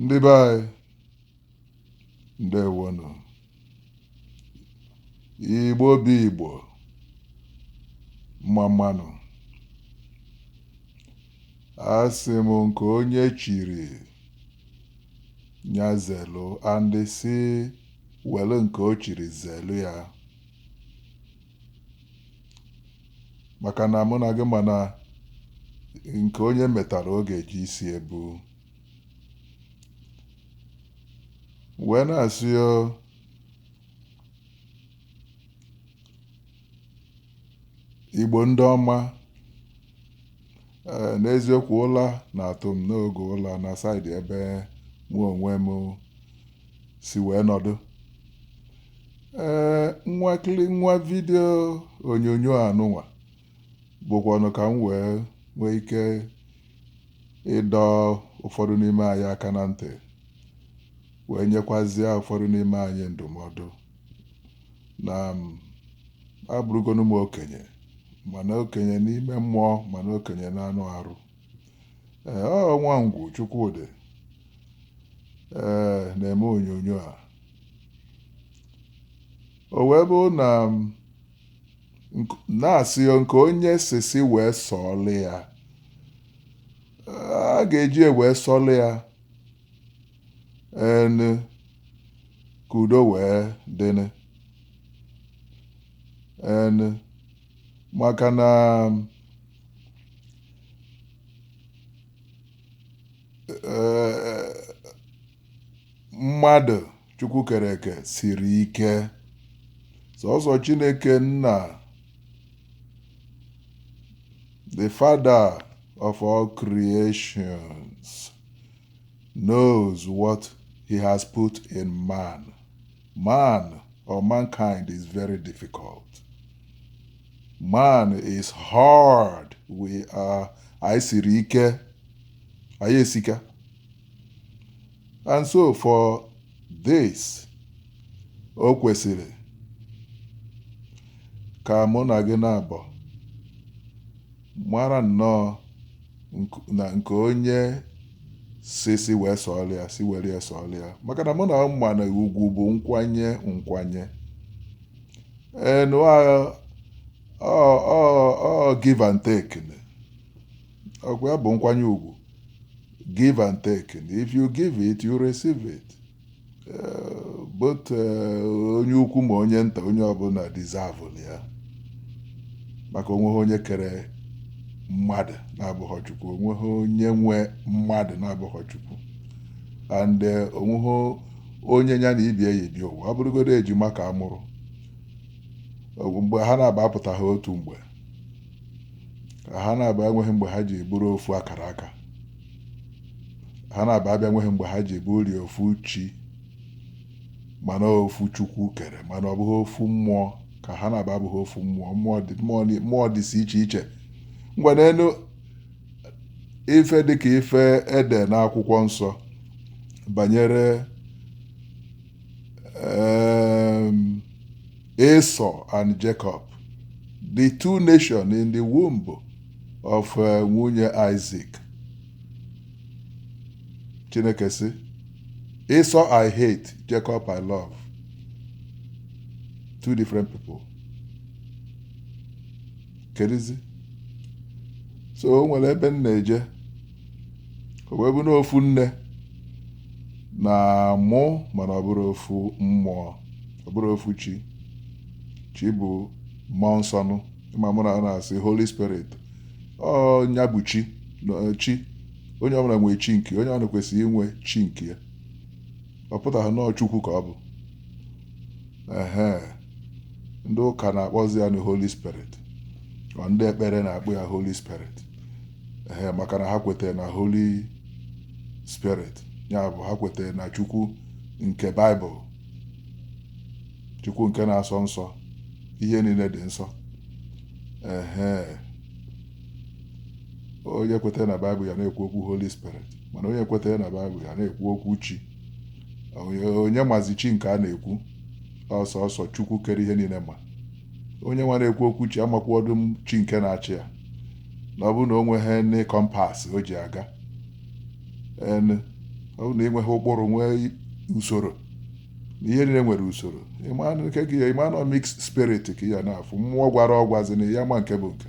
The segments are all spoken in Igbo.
ndị be anyị ndewonụ igbo bụ igbo mma mmanụ asị m nke onye chiri nya zelu andị si welu nke o chiri zelu ya maka na mụ na gị ma na nke onye metara ọ ga-eji isi ebu wee na-asị o igbo ndị ọma Ee, n'eziokwu ụla na-atụ m n'oge ụla na side ebe mụ onwe m si wee nọdụ. Ee, nwakịlị nwa video onyonyo anụnwa bụkwanụ ka m wee nwee ike ịdọ ụfọdụ n'ime anyị aka na ntị wee nyekwazie ụfọdụ n'ime anyị ndụmọdụ na abụrụgonu m okenye ma na okenye n'ime mmụọ ma na okenye n'anụ arụ ee ọ Nwangwu Chukwudi ee na-eme onyonyo a o wee bụ na na-asị nke onye si si wee sọọlụ ya a ga-eji wee sọọlụ ya ehn ka udo wee dịnụ ehn maka na mmadụ chukwu kere eke siri ike sọsọ chineke nna the father of all creations knows what he has put in man. Man or mankind is very difficult. Man is hard. We are anyị siri ike anyị esika and so for this o kwesiri ka mụ na gị naabọ mara nnọọ na nke onye si si wee sọọlụ ya si were ya sọọlụ ya maka na mụ na ị ma na ugwu bụ nkwanye nkwanye ehn ọ give and take ọ kwa ya bụ nkwanye ugwu give and take if you give it you receive it Eh, but eh, onye ukwu ma onye nta onye ọbụla deserve ya maka onweghị onye kere mmadụ na-abụghị chukwu onweghị onye nwe mmadụ na-abụghị chukwu and eh, onweghị onye ya na ibie yi bịa ụwa ọ bụrụgodo ejima ka a mụrụ mgbe ha naabọ apụtaha otu mgbe ka ha naabọ enweghị mgbe ha ji bụrụ ofu akara aka ha naabọ bịa nweghị mgbe ha ji bụrụ ofu chi mana ofu chukwu kere mana ọ bụghị ofu mmụọ ka ha naabọ abụghị ofu mmụọ mmụọ dị mmụọ dị- mmụọ dịsị iche iche ngwa neenụ ife dịka ife ede n'akwụkwọ nsọ banyere um, Esau and Jacob the two nations in the womb of eh, nwunye Isaac Chineke sị Esau I hate Jacob I love two different people kedizi so o nwere ebe m na-eje o wee bụ na ofu nne na-amụ mana ọ bụrọ ofu mmụọ ọ bụrọ ofu chi chi bụ mmụọ nsọ nụ ịma mụ na ọ na-asị holy spirit ọ nya bụ chi na eh, chi onye ọbụla nwee chi nke ya onye ọbụla kwesịrị inwe chi nke ya ọ pụtaghị na ọ chukwu ka ọ bụ ehe ndị ụka na-akpọzi ya na holy spirit ọ ndị ekpere na-akpọ ya holy spirit ehe maka na ha kwetara na holy spirit ya bụ ha kwetara na chukwu nke baịbụl Chukwu nke na-asọ nsọ ihe niile dị nsọ ehe onye kwetara na baịbụl ya na-ekwu okwu holy spirit mana onye kwetaghị na baịbụl ya na-ekwu okwu chi onye mazi chi nke a na-ekwu ọ sọọsọ chukwu kere ihe niile ma onye nwa na-ekwu okwu chi amakwọdụ chi nke na-achị ya na ọ bụ na o nweghị any compass o ji aga ọ bụrụ na ị nweghị ụkpụrụ nwee usoro na ihe niile nwere usoro ịma na nke gị ya ịma na mix spirit ka ị ya na-afụ mmụọ gwara ọgwazi na ya ma nke bụ nke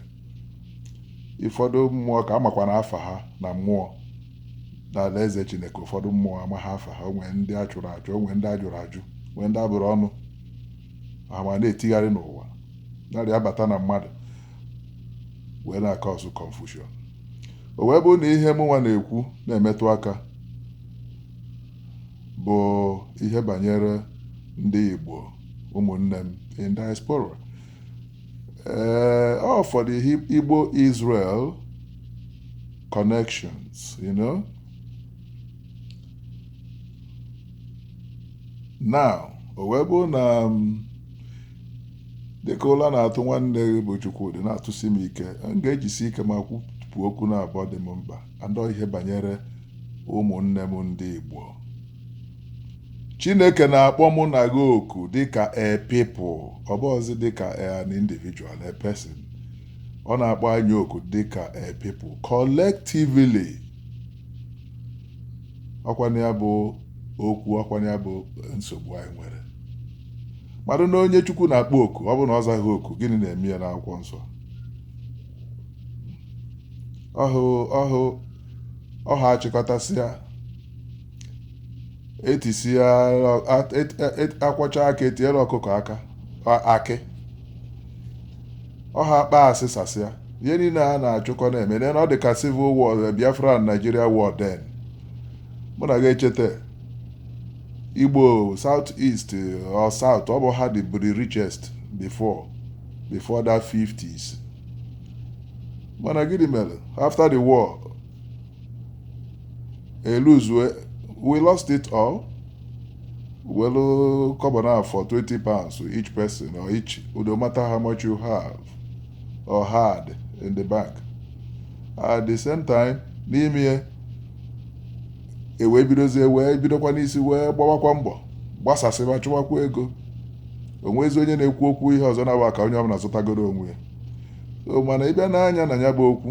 ụfọdụ mmụọ ka a makwanụ afa ha na mmụọ n'alaeze chineke ụfọdụ mmụọ amaha afa ha o nwee ndị a chụrụ achụ o nwee ndị a jụrụ ajụ nwee ndị a bụrụ ọnụ ha ma na-etigharị n'ụwa na-arị abata na mmadụ wee na-acause confusion o wee bụ na ihe mụnwa na-ekwu na-emetụ aka bụ ihe banyere ndị Igbo ụmụnne m in diaspora ee for the Igbo Israel connections you know now o wee bụ na um, dịka ụla na-atụ nwanne gị bụ Chukwudi na-atụsi m ike m ga-ejisi ike ma kwupụ okwu naabọ dị m mkpa and ihe banyere ụmụnne m ndị Igbo Chineke na-akpọ mụ na gị oku dịka a people ọ bụghịzi dịka an individual a person ọ na-akpọ anyị oku dịka a people collectively ọkwa nya bụ okwu ọkwa nya bụ nsogbu anyị nwere mmadụ na onye Chukwu na-akpọ oku ọ bụ na ọ zaghị oku gịnị na-eme ya n'akwụkwọ nsọ ọha achịkọtasịa etisịa akwọcha aka etiere ọkụkọ aka akị ọha akpasịsasịa ihe niile a na-achụkọ na-eme na ọ dị ka civil war biafra na nigeria war then mụ na gị echeta igbo south east or south ọ bụ ha dị the richest before before that 50s mana gịnị mere after the war eluzue we lost it all welu kọbọ na for 20 pounds to each person or each no matter how much you have or had in the bank at the same time n'ime ya e wee bidozie wee bidokwa n'isi wee gbawakwa mbọ gbasasịba chụwakwa ego onwezi onye na-ekwu okwu ihe ọzọ na-abụ ka onye ọbụla zọtagodu onwe ya so mana ị bịa nee anya na ya bụ okwu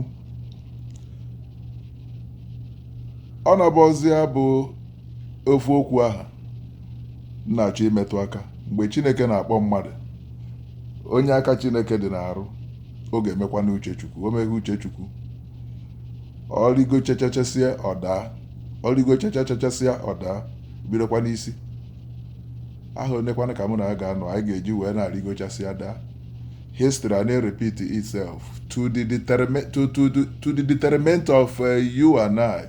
ọ na-abụzi ya bụ ofu okwu ahụ m na-achọ imetụ aka mgbe chineke na-akpọ mmadụ onye aka chineke dị n'arụ ọ ga-emekwanụ uche chukwu o meghị uche chukwu ọ rịgochachasịa ọ daa ọ rịgochachasịa ọ daa bidokwa n'isi aha onekwanụ ka mụ na gị ga-anọ anyị ga-eji wee na-arịgochasịa daa history a na-repeat itself to the determi- to, to, the- to the detriment of uh, you and I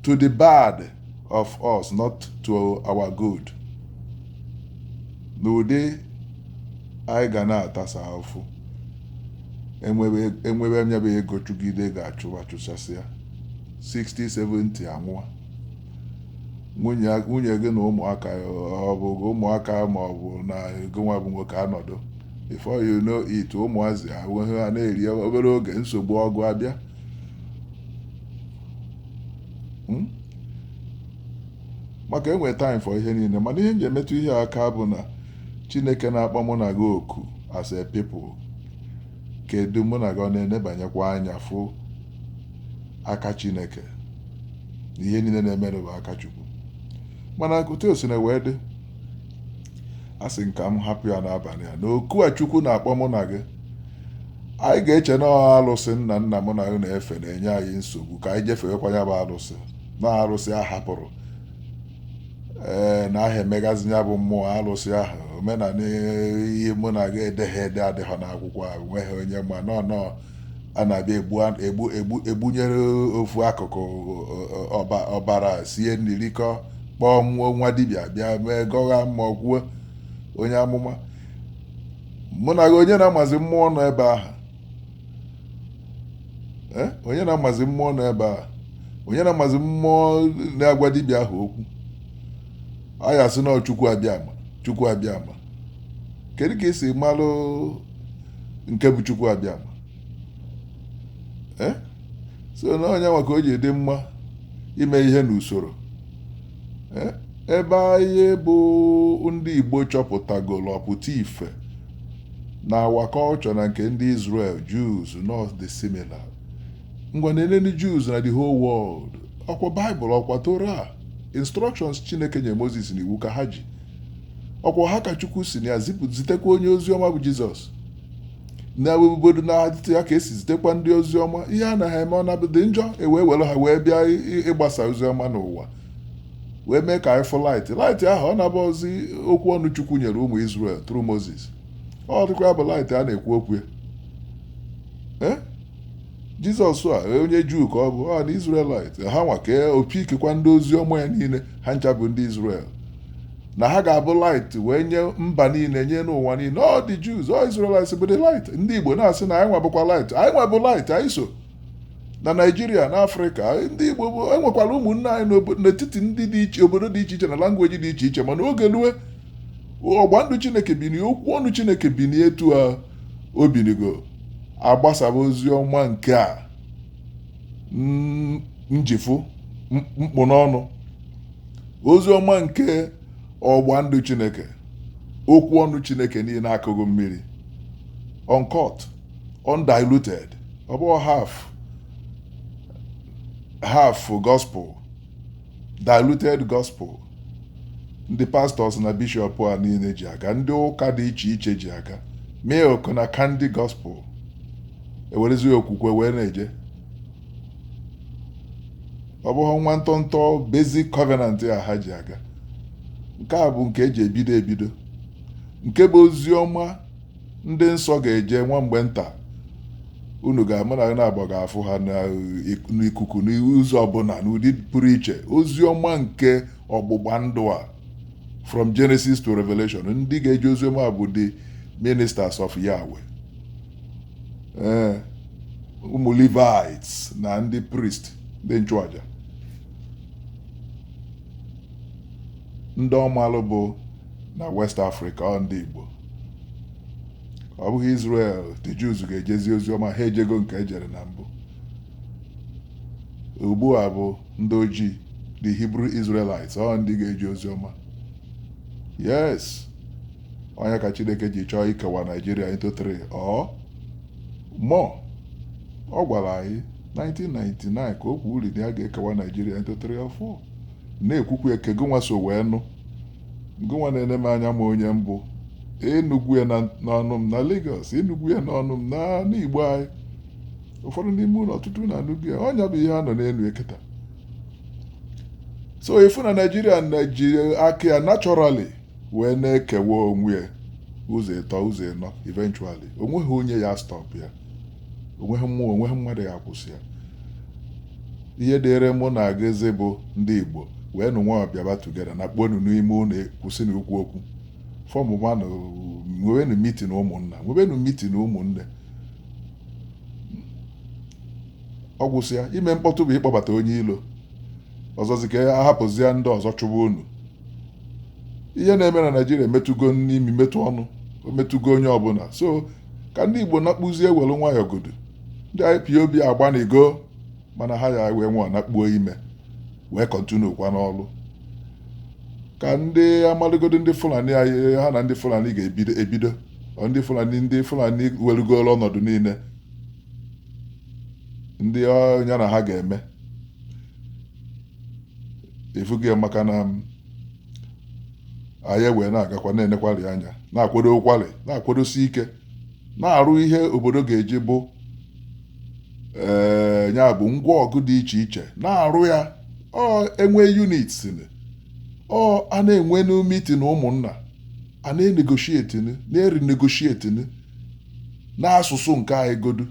to the bad of us not to our good n'ụdị anyị ga na-atasa afụ enwebe enwebe nya bụ ego chụgide ga-achụwa chụsasịa 60 70 a nwụọ nwunye nwunye gị na ụmụaka ọ bụ ụmụaka ma ọ bụ na gị nwa bụ nwoke anọdụ before you know it ụmụazị enweghị ihe ha na-eri obere oge nsogbu ọgụ abịa Hmm? maka enwe time for ihe niile mana ihe m ji emetụ ihe a aka bụ na chineke na-akpọ mụ na gị oku as a people Kedụ, mụ na gị ọ na-enebanyekwa anya fụ aka Chineke? Na ihe niile na-emenụ bụ aka Chukwu. Mana otu o si na wee dị, a sị nka m hapụ ya n'abalị a na oku a Chukwu na-akpọ mụ na gị anyị ga-eche na ọ alụsị nna nna mụ na gị na-efe na-enye anyị nsogbu ka anyị jefewekwa ya bụ alụsị na alụsị a hapụrụ ee anaha emegazi ya bụ mmụọ alụsị ahụ omenala ihe mụ na gị edeghị ede adịghọ n'akwụkwọ a nweghị onye ma nọ nọ a na-abịa egbu an- egbu egbu egbunyere ofu ọkụkụ ọ- ọ- ọba- ọbara sie nri rikọ kpọọ nwa nwa dibịa bịa mee gọgha mmụọ kwuo onye amụma mụ na gị onye na-amazi mmụọ nọ ebe ahụ Eh, onye na-amazi mmụọ nọ ebe a onye na-amazi mmụọ na-agwa dibịa ahụ okwu a ya-asị na ọ Chukwu Abịama Chukwu Abịama kedu ka esi malụ nke bụ Chukwu Abịama Eh, so na ọ nya nwa ka o ji dị mma ime ihe n'usoro e, ebe anyị bụ ndị Igbo chọpụtagoro ọpụta ife na our culture na nke ndị Israel Jews na ọ dị similar ngwa nele ndị Jews na the whole world ọkwa Bible ọkwa Torah instructions Chineke nye Moses na iwu ka ha ji ọkwa ha ka Chukwu si na ya zitekwa onye ozi ọma bụ Jizọs n'obodo n'etiti ya ka esi zitekwa ndị ozi ọma ihe a na ha eme ọ na-adị njọ ewee were ha wee bịa ịgbasa ozi ọma n'ụwa wee mee ka anyị fụ light light ahụ ọ na-abụ ozi okwu ọnụ chukwu nyere ụmụ Izrel through Moses ọ dịkwa bụ light a na-ekwu okwu ya eh? jizọs a onye juu ka ọ bụ an Israelite ha nwa ka o pickikwa ndị ozi ọma ya niile ha ncha bụ ndị Izrel na ha ga-abụ light wee nye mba niile nye n'ụwa niile ọ the Jews ọ Israelites bụ the light ndị Igbo na-asị na anyị nwa bụkwa light anyị nwa bụ light anyị so na Naịjirịa na Afrịka ndị Igbo bụ enwekwara ụmụnne anyị n'obo- n'etiti ndị dị iche obodo dị iche iche na language dị iche iche mana oge lue ọgba ndụ Chineke bini okwu ọnụ Chineke bini etu a o binigo agbasaba ozi ọma nke a mm, njifụ m- mkpu n'ọnụ ozi ọma nke ọgba ndụ chineke okwu ọnụ chineke niile akụghị mmiri uncut undiluted ọ bụghị half half gospel diluted gospel ndị pastọs na bishọp a niile ji aga ndị ụka dị iche iche ji aga milk na candy gospel ewerezi okwukwe wee na-eje ọ bụghị nwa ntọntọ basic covenant a ha ji aga nke a bụ nke eji ebido ebido nke bụ ozi ọma ndị nsọ ga-eje nwa mgbe nta unu ga-ama na na-agba ga-afụ ha n'ikuku n'ụzọ ọbụla n'ụdị pụrụ iche ozi ọma nke ọgbụgba ndụ a from Genesis to Revelation ndị ga-eje ozi ọma bụ the ministers of Yahweh ee ụmụ Levites na ndị priest ndị nchụaja ndị ọ malụ bụ na West Africa ọ ndị Igbo ọ bụghị Israel the Jews ga-ejezi ozi ọma ha ejego nke ejere na mbụ ugbu a bụ ndị ojii the Hebrew Israelites ọ ndị ga-eje ozi ọma yes ọ nya ka chineke ji chọọ ikewa naijiria into 3 or more ọ gwara anyị 1999 ka o kwuru na ya ga-ekewa naijiria into 3 or 4 na-ekwu okwu nke gịnwa so wee nụ gịnwa na-ene m anya ma onye m bụ ị nụgo ya na- n'ọnụ m na Lagos ị nụgo ya n'ọnụ m na n'igbo anyị ụfọdụ n'ime unu ọtụtụ unu anụgo ya ọ nya bụ ihe a nọ n'elu ya kịta so ị fụ na naijiria na-eji aka ya naturally wee na-ekewa onwe ya ụzọ ịtọ ụzọ ịnọ eventually onweghị onye ya-astọp ya onweghị mmụọ onweghị mmadụ ya-akwụsị ya ihe dịrị mụ na gịzi bụ ndị igbo wee nụ nwayọ bịaba tugeda nakpuonụ n'ime ụlọ kwụsịnụ okwu okwu fọmụ manụ nwebenụ mitin ụmụnna nwebenụ mitin ụmụnne ọ gwụsịa ime mkpọtụ bụ ịkpọbata onye ilo ọzọzi ka a hapụzie ndị ọzọ chụba unu ihe na-eme na naijiria emetụgo n'imi metụ ọnụ o metụgo onye ọbụla so ka ndị igbo nakpuzie welu nwayọ godu ndị ipob agbanịgo mana ha ya wee nwayọ nakpuo ime wee kọntinu kwa n'ọlụ ka ndị a malụgodu ndị fulani anyị ha na ndị fulani ga-ebido ebido ọ ndị fulani ndị fulani welugolu ọnọdụ niile ndị ọ ya na ha ga-eme ifugo ya maka na anyị wee na-agakwa na-enekwali anya na-akwadokwali na-akwadosi ike na-arụ ihe obodo ga-eji bụ ee ya bụ ngwa ọgụ dị iche iche na-arụ ya ọ enwe units ni ọ a na-enwenụ meeting ụmụnna a na-enegotiate na-erenegotiate n'asụsụ nke anyị godu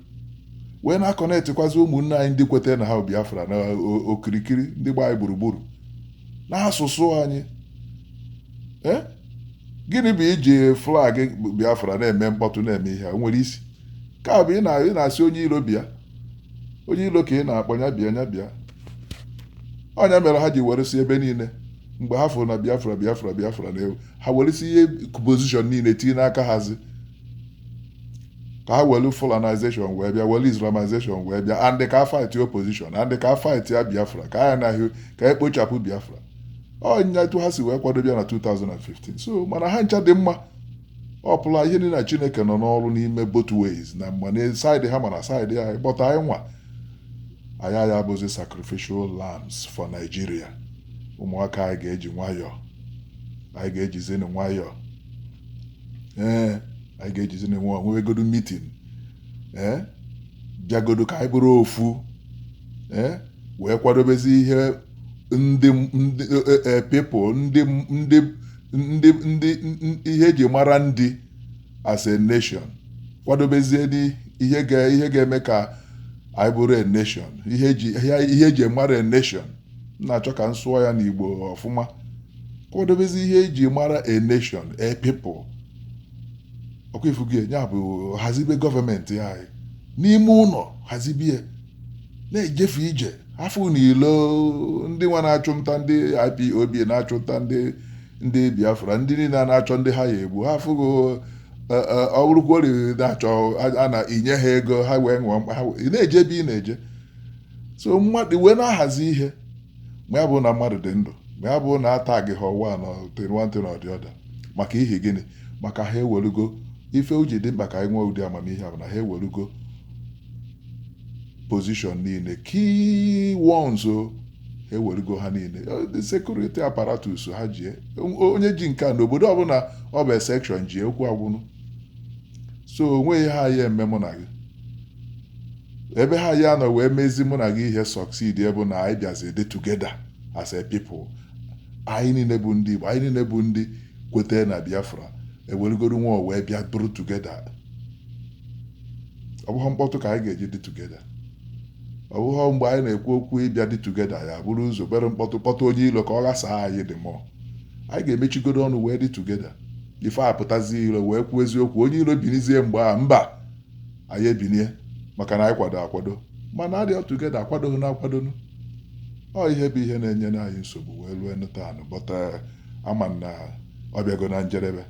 wee na-aconnectikwazi ụmụnne anyị ndị kwetara na ha bụ Biafra na o- okirikiri ndị gba anyị gburugburu n'asụsụ anyị Eh? gịnị bụ iji flag Biafra na-eme mkpọtụ na-eme ihe a? O nwere isi ka bụ ị na- ị na-asị onye ilo bịa onye ilo ka ị na-akpọ ya bịa ya bịa ọ nya mere ha ji weresi ebe niile mgbe ha fụrụ na Biafra Biafra Biafra na-ewu ha weresi ihe position niile tinye n'aka hazi ka ha welu Fulanization wee bịa welu Islamization wee bịa and ka a fight opposition and ka a fight ya Biafra ka anyị anaghị ka anyị kpochapụ Biafra ọ nya etu ha si wee kwado bịa na 2015 so mana ha ncha dị mma ọ pụla ihe niile na Chineke nọ n'ọrụ n'ime both ways na mgbe na side ha mana side anyị kpọta anyị nwa anyị aya-abụzi sacrificial lambs for Nigeria ụmụaka anyị ga-eji nwayọọ anyị ga-ejizi nwayọọ ee anyị ga-ejizini nwayọọ nwebegodo meeting ee bịagodo ka anyị bụrụ ofu ee wee kwadobezi ihe ndị ndị people ndị ndị ndị ndị ihe eji mara ndị as a nation kwadobezie ihe ga ihe ga-eme ka anyị bụrụ a nation ihe eji ihe eji mara a nation na-achọ ka m sụọ ya n'Igbo ọfụma kwadobezi ihe eji mara a nation a people ọkwa ifugo ya bụ hazibe government anyị n'ime ụnọ hazibie na-ejefe ije afụ n'ilo ndị nwa na-achụ nta ndị IPOB na-achụ nta ndị ndị Biafra ndị niile na-achọ ndị ha ya egbu ha afụgo ọ bụrụkwori na-achọ a na-enye ha ego ha wee ṅụọ mkpa ha wee- ị na-eje ebe ị na-eje so mmadụ wee na-ahazi ihe ma ya bụ na mmadụ dị ndụ ma ya bụ na ata gị ha ọwa na one thing or the other maka ihi gịnị maka ha ewerugo ife o ji dị mkpa ka anyị nwee ụdị amamihe a bụ na ha ewerugo position niile key ones o ha ewerugo ha niile the security apparatus ha jie onye ji nke a n'obodo ọbụla ọ bụ section jie okwu agwụnụ so onweghị ha ya eme mụ na gị ebe ha ya nọ wee mezi mụ na gị ihe succeed ebe na anyị bịazi dị together as a people anyị niile bụ ndị Igbo anyị niile bụ ndị kwetara na Biafra eweregoro nwa wee bịa bụrụ together ọ bụghị mkpọtụ ka anyị ga-eji dị together ọ bụghị mgbe anyị na-ekwu okwu ịbịa dị together ya bụrụ ụzọ bere mkpọtụ kpọtụ onye ilo ka ọ ghasaa anyị the more anyị ga-emechigodo ọnụ wee dị together ife apụtazi ilo wee kwuo eziokwu onye ilo binizie mgbe a mba anyị ebinie maka na anyị kwado akwado mana adịọ together akwadoghị na akwadonu ọ ihe bụ ihe na-enye anyị nsogbu wee rue nụtanụ but a ma na ọ bịago na njedebe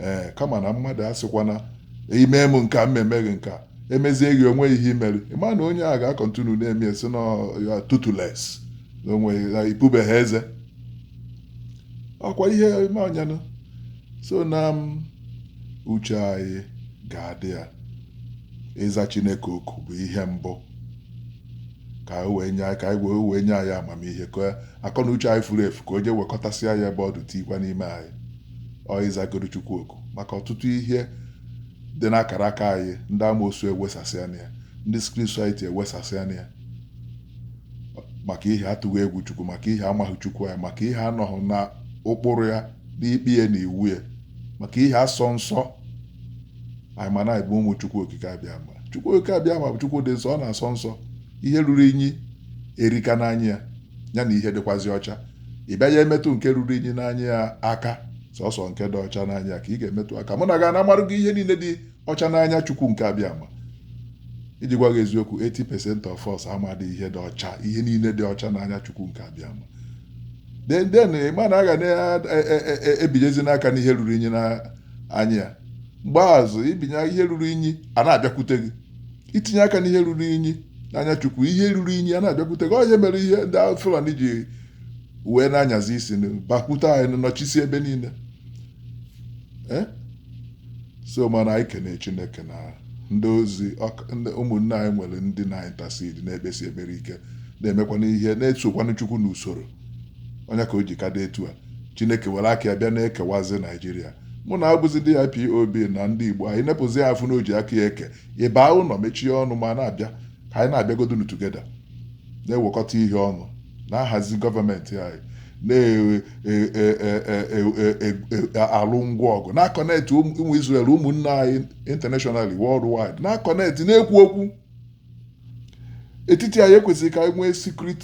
ee kama na mmadụ asịkwa na i mee m nke a m mee gị nke a emezie gị o nwe ihe i mere ị ma na onye a ga-acontinue na-eme ya sị na ya toothless na onwe ya i pubeghị eze ọkwa ihe ime ọnyanụ so na m uche anyị ga-adị ya ịza chineke oku bụ ihe mbụ ka o wee nye anyị ka anyị wee wee nye anyị amamihe ka akọ na uche anyị furu efu ka o jee wekọtasịa ya ebe ọ dị tikwa n'ime anyị ọ ịzagoro chukwu oku maka ọtụtụ ihe dị n'akara aka anyị ndị amoosu ewesasịana ya ndị secret society ewesasịana ya maka ihe atụghị egwu chukwu maka ihe amaghị chukwu anyị maka ihe anọghị na ụkpụrụ ya n'ikpe ya na iwu ya maka ihe asọ nsọ anyị ma na anyị bụ ụmụ chukwu okike abịama chukwu okike abịama bụ chukwu dị nsọ ọ na-asọ nsọ ihe ruru inyi erika n'anya ya ya na ihe dịkwazi ọcha ị bịa ya emetụ nke ruru inyi n'anya ya aka sọsọ nke dị ọcha n'anya ka ị ga-emetụ aka mụ na gị ana-amarụ gị ihe niile dị ọcha n'anya chukwu nke abịama iji gwa gị eziokwu 80% of us amadị ihe dị ọcha ihe niile dị ọcha n'anya chukwu nke abịama then then ị ma na a ga na-ebinyezi e, e, e, aka n'ihe ruru inyi na anya ya because i binye ihe ruru inyi a na-abịakwute gị i tinye aka n'ihe ruru inyi n'anya chukwu ihe ruru inyi a na-abịakwute gị ọ ihe mere ndị Fulani ji wee na-anyazi isi bakwute anyị nọchisi ebe niile eh? so mana anyị kene chineke na ndị ozi ọk- ndị ụmụnne anyị nwere ndị na-intercede na-ekpesi ekpere ike na-emekwanụ ihe na-esokwanụ chukwu n'usoro ọ ya ka o ji ka dị etu a chineke were aka ya bịa na-ekewazi naijiria mụ na gị bụzi ndị IPOB na ndị igbo anyị nepụzie anya fụ na o ji aka ya eke ị baa ụnọ mechie ọnụ ma na-abịa ka anyị na-abịagodunu together na-ewekọta ihe ọnụ na-ahazi gọọmenti anyị na-alụ ngwa ọgụ na-aconnect ụmụ Israel ụmụnne anyị internationally worldwide na-aconnect na-ekwu okwu etiti anyị ekwesịrị ka anyị nwee secret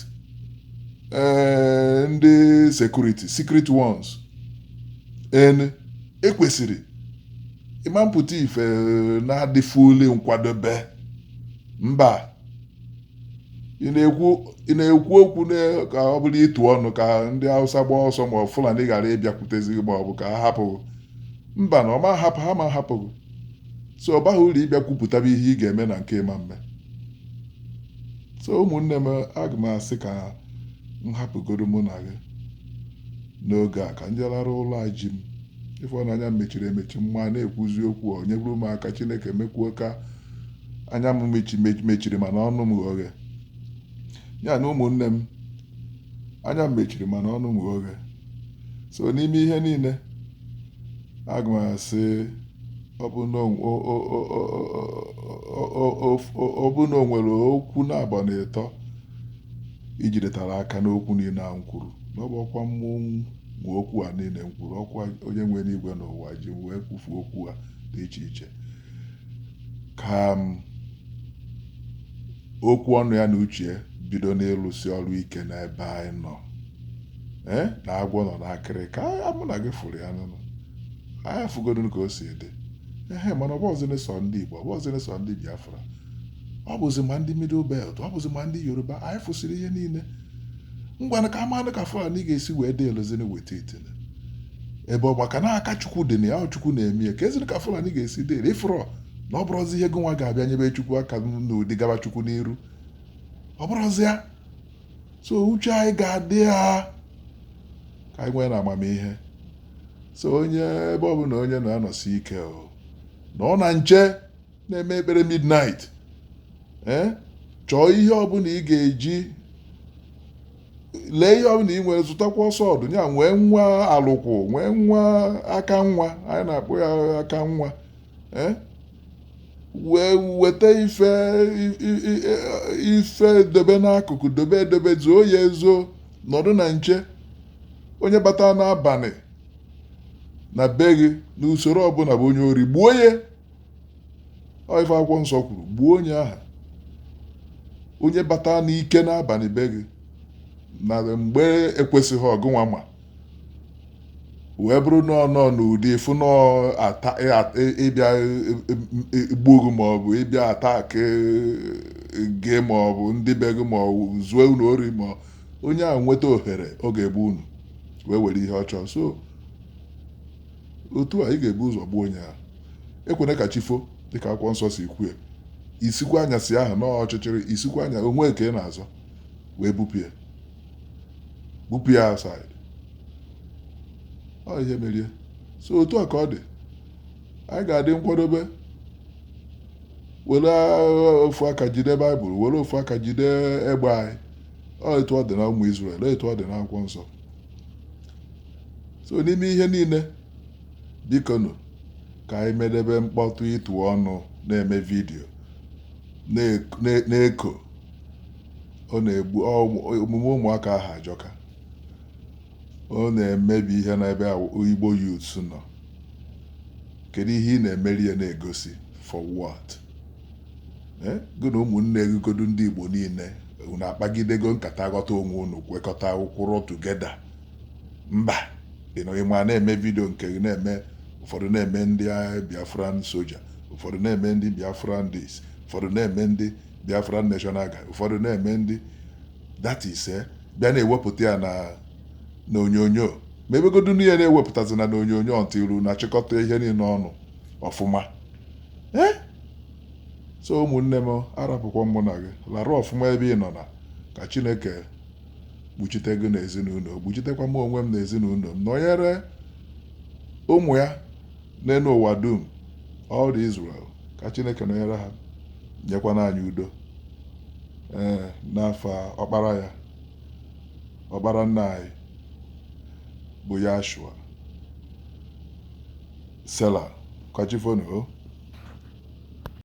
eh, ndị security secret ones en ekwesịrị ịma mpụta ife eh, na-adị fully nkwadobe mba ị na-ekwu ị na-ekwu okwu na- ka ọ bụrụ ịtụ ọnụ ka ndị Hausa gbaa ọsọ ma ọ Fulani ghara ịbịakwutezi gị ma ọ bụ ka ha hapụ gị. mba na ọ ma hapụ ha ma hapụ gị so ọ baghị uru ịbịa kwupụtaba ihe ị ga-eme na nke ị ma mme so ụmụnne m aga m asị ka m hapụgodu mụ na gị n'oge a ka m je lara ụla a ji m ị fụ na anya m mechiri emechi ma na-ekwuzi okwu nyere m aka Chineke mekwuo ka anya m mechiri mana ọnụ m ghe oghe ya na ụmụnne m anya m mechiri mana ọnụ m ghe oghe so n'ime ihe niile aga m asị ọ bụ na o nwere okwu naabọ na ịtọ i jidetara aka n'okwu niile a m kwuru na ọ bụrọkwa mụ nwe okwu a niile m kwuru ọkwa onye nwe enigwe n'ụwa ji m wee kwufu okwu a dị iche iche ka m okwu ọnụ ya na uche ya bido n'ịlụsi ọrụ ike n'ebe anyị nọ ee na agwọ nọ n'akịrịka mụ na gị fụrụ ya n'ụnọ anyị fụgodu ka o si dị ehe mana ọ bụghịzịrị sọ ndị Igbo ọ bụghịzịrị sọ ndị Biafra ọ bụzi ma ndị Middle Belt ọ bụzi ma ndị Yoruba anyị fụsịrị ihe niile ngwanụ ka a manụ ka Fulani ga-esi wee dị elozini weta itene ebe ọ maka na aka chukwu dị na ya ọ chukwu na-eme ya ka eziri ka fulani ga-esi dị ere ịfụrọ na ọ bụrụzi ihe gị nwa ga-abịa nyebe chukwu aka n'ụdị gaba chukwu n'iru ọ bụrụzi ya so uche anyị ga-adị ya ka anyị nwee na amamihe so onye ebe ọ bụla onye nọ ya nọsie ike o na-anọ na nche na-eme ekpere midnight eh? chọọ ihe ọbụla ị ga-eji lee ihe ọbụla ị nwere zụtakwa sword ya nwee nwa alụkwụ nwee nwa aka nwa anyị na-akpọ ya aka nwa eh? wee weta ife ife dobe n'akụkụ dobe edobe zuo ya ezo nọdụ na nche onye bata n'abalị na be gị n'usoro ọbụla bụ onye ori gbuo ya ọ ife akwụkwọ nsọ kwuru gbuo onye ahụ onye bata n'ike n'abalị be gị na mgbe ekwesịghị ọgụnwa ma wee bụrụ na ọ nọ n'ụdị ịfụ na ọ ata- ị- at- ị- ịbịa igbu gị ma ọ bụ ịbịa attack gị ma ọ bụ ndị be gị ma ọ bụ zuo unu ori ma ọ- onye ahụ nweta ohere ọ ga-egbu unu wee were ihe ọ chọọ so otu a ị ga-ebu ụzọ gbuo onye ahụ ekwena ka chi fo dịka akwụkwọ nsọ si kwue isikwa anyasị ahụ n'ọọ ọchịchịrị isikwa anya onwe ka ị na-azọ wee bupụ ya bupụ ya outside ọ ihe merie so otu a ka ọ dị anyị ga-adị nkwadobe were ofu aka jide baịbụl were ofu aka jide egbe anyị ọ etu ọ dị na ụmụ Izrel etu ọ dị n'akwụkwọ nsọ so n'ime ihe niile bikonu ka anyị medebe mkpọtụ ịtụ ọnụ na-eme vidiyo na-eko ọ na-egbu omume ụmụaka ahụ ajọka ọ na-emebi ihe n'ebe igbo youths nọ kedu ihe ị na-emeri ya na-egosi for what eh, gị na ụmụnne gị godu ndị igbo niile unu akpagidego nkata ghọta onwe unu kwekọta kwụrụ together mba ị nọ- ị ma na-eme vidio nke gị na-eme ụfọdụ na-eme ndị agha biafran soja ụfọdụ na-eme ndị biafran this ụfọdụ na-eme ndị biafran national guard ụfọdụ na-eme ndị that is eh, bịa na-ewepụta ya na na onyonyo ma ebegodu ihe na-ewepụtazi na na onyonyo until unu achịkọta ihe niile ọnụ ọfụma ee so ụmụnne m arapụkwa mụ na gị larụ ọfụma ebe ị nọ na ka chineke kpuchite gị na ezinụlọ kpuchitekwa m onwe m na ezinụlọ m nọnyere ụmụ ya n'elu ụwa dum all the Israel ka chineke nọnyere ha nyekwana anyị udo ee n'afa ọkpara ya ọkpara nna anyị bụ Yahshua Sela. Ka chi fonu o.